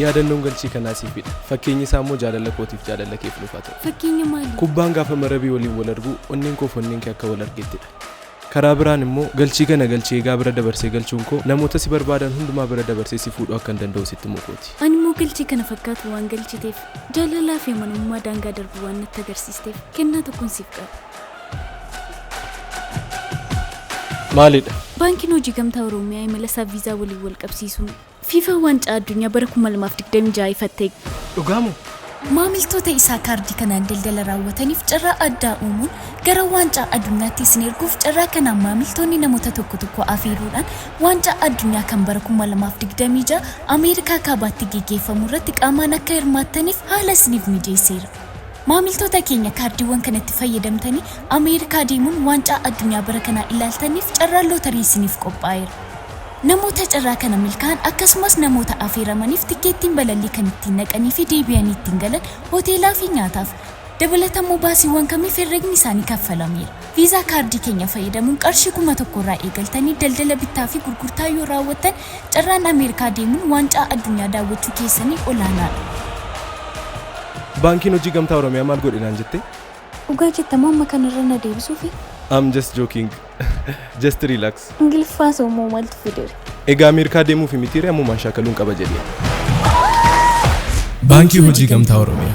Yaadannoon galchii kanaa siifidha. Fakkeenyi isaa immoo jaalala kootiif jaalala keef nuuf haa ta'u. Fakkeenya maali? Kubbaan gaafa marabii waliin wal argu onneen koo fi onneen kee akka wal argettidha. Karaa biraan immoo galchii kana galchi eegaa bira dabarsee galchuun koo namoota si barbaadan hundumaa bira dabarsee si fuudhuu akkan danda'u sitti himuu kooti. Ani immoo galchii kana fakkaatu waan galchiteef, jaalalaa fi amanamummaa daangaa darbu waan natti agarsiisteef kennaa tokkon siif qaba. maalidha? Baankiin Hojii Gamtaa Oroomiyaa imala isaa viizaa waliin wal qabsiisuun Fiifaan Waancaa Addunyaa bara 2026 ifatti eegale. Dhugaa moo? Maamiltoota isaa kaardii kanaan daldala raawwataniif carraa addaa uumuun gara Waancaa Adunyaatti isin erguuf carraa kanaan maamiltoonni namoota tokko tokko afeeruudhaan Waancaa Addunyaa kan bara 2026 Ameerikaa Kaabaatti geggeeffamu irratti qaamaan akka hirmaattaniif haala isiniif mijeesseera. Maamiltoota keenya kaardiiwwan kanatti fayyadamtanii Ameerikaa deemuun Waancaa Addunyaa bara kanaa ilaaltanniif carraan lootarii isiniif qophaa'eera. Namoota carraa kana milkaa'an akkasumas namoota afeeramaniif tikkeettiin balallii kan ittiin dhaqanii fi deebi'anii ittiin galan, hoteelaa fi nyaataaf dabalatammoo baasiiwwan kamiif herregni isaanii kaffalameera. Viizaa kaardii keenya fayyadamuun qarshii 1000 irraa eegaltanii daldala bittaa fi gurgurtaa yoo raawwattan Carraan Ameerikaa deemuun Waancaa Addunyaa daawwachuu keessanii olaanaadha. Baankiin Hojii Gamtaa Oromiyaa maal godhe naan jettee? Dhugaa jetta moo amma kana irra na deebisuufi? I'm just joking. Just relax. Ingiliffaa hasawu moo maaltu fidere? Egaa Ameerikaa deemuufi mitiiree ammumaan shaakaluun qaba jedhee. Baankii Hojii Gamtaa Oromiyaa.